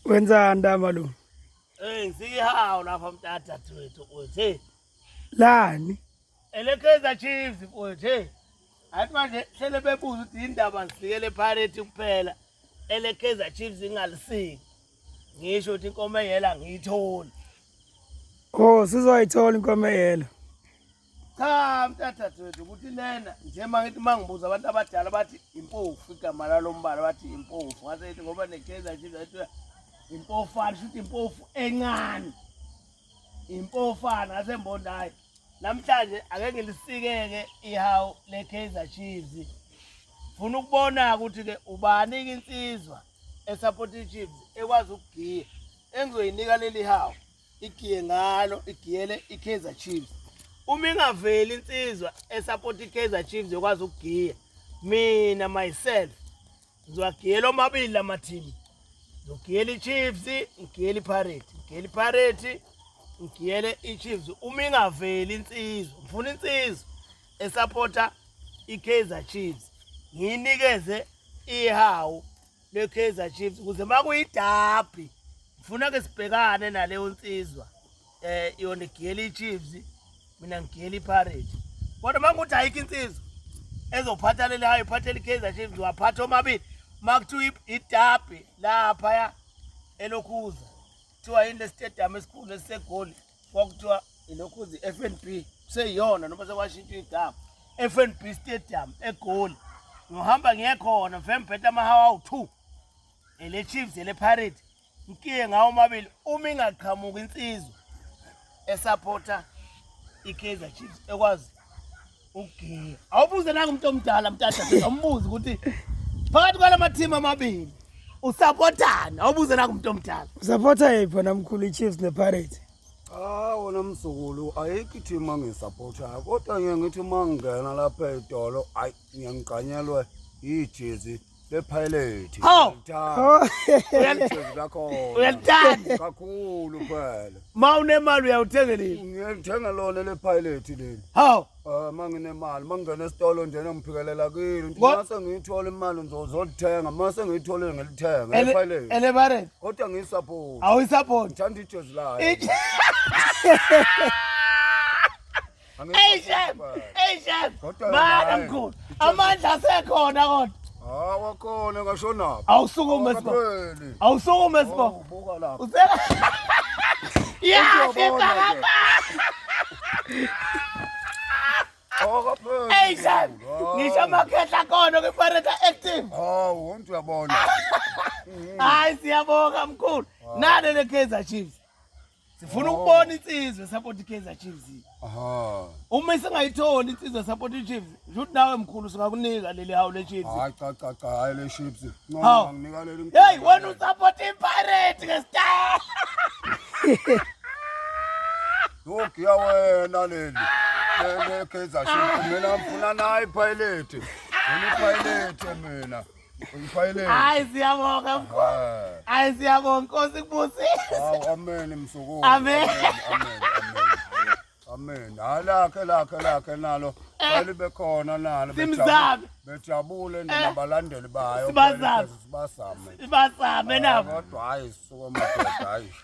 Wenza ndama lo. Eh ngihawu lapha mtata twethu uthi lani? Elekeza Chiefs uthi athi manje hlele bebuza ukuthi indaba ngisikele Pirates kuphela. Elekeza Chiefs ingalisiki. Ngisho ukuthi inkomo eyela ngiyitholi. Oh sizoyithola inkomo eyela. cha mntathathethu ukuthi lena nje mangithi mangibuza abantu abadala bathi impofu igama lalombala bathi impofu ngase ithi ngoba nekaizer chiefs athi impofana shuthi impofu encane impofana ngase mbona hayi namhlanje ake ngilisikeke ihawu lekaizer chiefs funa ukubona ukuthi ke ubani insizwa esupport ichiefs ekwazi ukugiya engizoyinika leli hawu igiye ngalo igiyele iKaizer Chiefs uma ingaveli insizwa esupport iKaizer Chiefs yokwazi ukugiya mina myself ngizwagiyela omabili lama team ngizogiyela iChiefs ngigiyela iPirate ngigiyela iPirate ngigiyele iChiefs uma ingaveli insizwa ngifuna insizwa esupporta iKaizer Chiefs ngiyinikeze ihawu leKaizer Chiefs ukuze makuyidabi ngifuna ke sibhekane naleyo nsizwa eh yona igiyela iChiefs mina ngigiyela iPirates kodwa mangukuthi ayikho insizwa ezophatha leli hayi iphathela iKaizer Chiefs waphatha omabili makuthiwa idabi laphaya elokhuza kuthiwa yini le stadium esikhulu esisegoli kwakuthiwa ilokhuzi FNB kuseyiyona noma sekwashintsha igama FNB Stadium eGoli ngihamba ngiye khona mfembhetha amahawa awu-2 ele Chiefs ele Pirates ngikiye ngawo mabili uma ingaqhamuka insizwa esupporter iKaizer Chiefs ekwazi ugiya awubuze nanga umuntu omdala mtata awumbuze ukuthi phakathi kwalama team amabili usapotana awubuze nanga umuntu omdala usapota yiphi wena mkhulu ichiefs nepirates Ah wona mzukulu ayikho i-team angisapothayo kodwa ngiye ngithi uma ngingena lapha etolo ayi ngiyangigqanyelwe yijezi bephilothi Oh. Uyalithanda. kakhulu phela ma unemali uyawuthenga nini ngiyalithenga lona le pilothi leli hawu Ah, uma nginemali uma ngingena esitolo njena ngiphikelela kilo nje Ngo- mase ngiyithola imali ngizozolithenga mase ngiyitholile ngilithenga Ele- epilothi elebareni kodwa ngiyisapoti awuyisapoti ngithanda ijezi layo Ij- Hey chef, hey chef. Bana mkhulu. Amandla asekhona kodwa. Hawa khona ngashonaphi? Awusukume sbo. Awusukume sbo. Ubuka lapha. Useka. Yeah, sibaba. Awakapheli. Hey chef. Ngisho amakhehla khona kwiPirate Active. Hawu, wonke uyabona. Hayi siyabonga mkhulu. Nale le Kaizer Chiefs. sifuna ukubona insizwe support iKaizer Chiefs aha uma isingayitholi insizwe support iChiefs ukuthi nawe mkhulu singakunika leli hawu leChiefs hayi cha cha cha hayi leChiefs noma nginika leli hey wena usupport iPirate ke star Look ya wena leli leli Kaizer Chiefs mina ngifuna nayi Pirate mina Pirate mina Ngifayeleni. Hayi siyabonga mkhulu. Ah. Hayi siyabonga Nkosi kubusise. Hawu amen msukulu. Amen. Amen. Amen. Halakhe lakhe lakhe nalo eh. balibe khona nalo simzame. Bejabule eh. nabalandeli bayo. Sibazame. Sibazame nabo. Kodwa hayi suka madoda hayi.